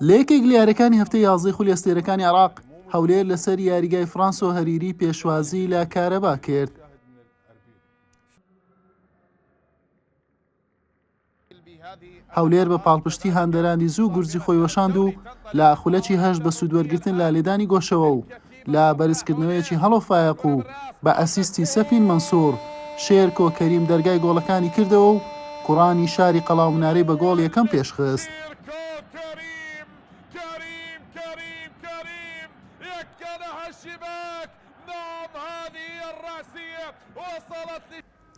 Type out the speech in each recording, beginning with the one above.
لە یەکێک لە یاریەکانی هەفتەی یازدەی خولی ئەستێرەکانی عێراق، هەولێر لەسەر یاریگای فرانسۆ هەریری پێشوازی لە کارەبا کرد. هەولێر بە پاڵپشتی هاندەرانی زوو گورزی خۆی وەشاند و لە خولەکی هەشت بە سوودوەرگتن لە لێدانی گۆشەوە و لە بەرزکردنەوەیەکی هەڵۆ فایەق و بە ئەسیستی سەفین مەنسوور، شێرکۆ کەریم دەرگای گۆڵەکانی کردەوە و کوڕانی شاری قەڵاومنارەی بە گۆڵ یەکەم پێشخست.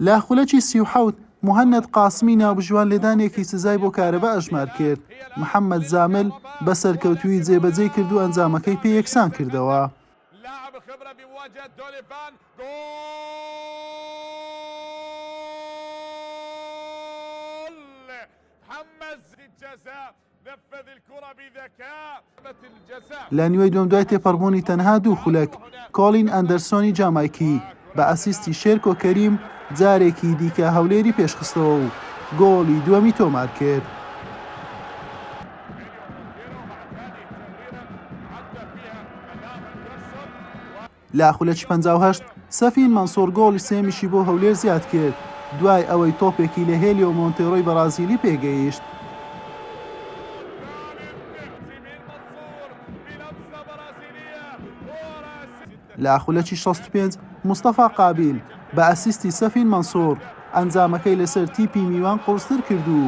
لە خولەکی سی و حەوت، موهەنەد قاسمی ناوبژیوان لێدانێکی سزای بۆ کارەبا ئەژمار کرد، محەمەد زامل بە سەرکەوتوویی جێبەجێی کرد و ئەنجامەکەی پێ یەکسان کردەوە. لە نیوەی دووەم دوای تێپەڕبوونی تەنها دوو خولەک، کۆڵین ئەندەرسۆنی جامایکی بە ئەسیستی شێرکۆ کەریم جارێکی دیکە هەولێری پێشخستەوە و گۆڵی دووەمی تۆمارکرد. لە خولەکی پەنجا و هەشت، سەفین مەنسوڕ گۆڵی سێیەمیشی بۆ هەولێر زیادکرد، دوای ئەوەی تۆپێکی لە هێلیۆ مۆنتێرۆی بەڕازیلی پێگەیشت. لە خولەکی شەست و پێنج، مستەفا قابیل بە ئەسیستی سەفین مەنسوڕ، ئەنجامەکەی لەسەر تیپی میوان قوڕستر کرد و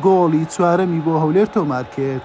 گۆڵی چوارەمی بۆ هەولێر تۆمارکرد.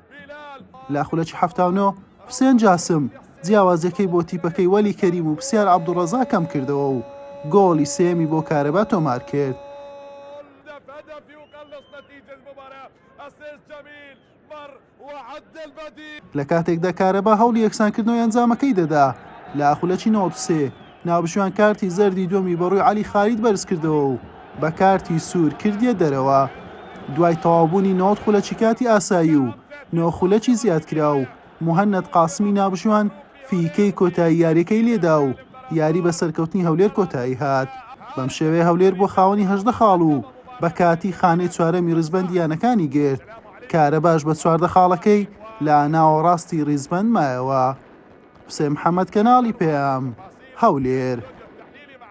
لە خولەکی حەفتا و نۆ حوسێن جاسم جیاوازییەکەی بۆ تیپەکەی وەلی کەریم و پسیار عەبدوڵڕەزا کەمکردەوە و گۆڵی سێیەمی بۆ کارەبا تۆمارکرد. لە کاتێکدا کارەبا هەوڵی یەکسانکردنەوەی ئەنجامەکەی دەدا لە خولەکی نەوەد و سێ، ناوبژیوان کارتی زەردی دووەمی بەڕووی عەلی خالید بەرزکردەوە و بە کارتی سوور کردیە دەرەوە دوای تەواوبوونی نۆزدە خولەکی کاتی ئاسایی و نۆ خولەکی زیادکراو، موهەنەد قاسمی ناوبژیوان فیکەی کۆتایی یاریەکەی لێدا و یاری بە سەرکەوتنی هەولێر کۆتایی هات، بەم شێوەیە هەولێر بووە خاوەنی هەژدە خاڵ و بە کاتی خانەی چوارەمی ڕیزبەندی یانەکانی گرت، کارەباش بە چواردە خاڵەکەی لە ناوەڕاستی ڕیزبەند مایەوە. حوسێن محەمەد کەناڵی پەیام هەولێر.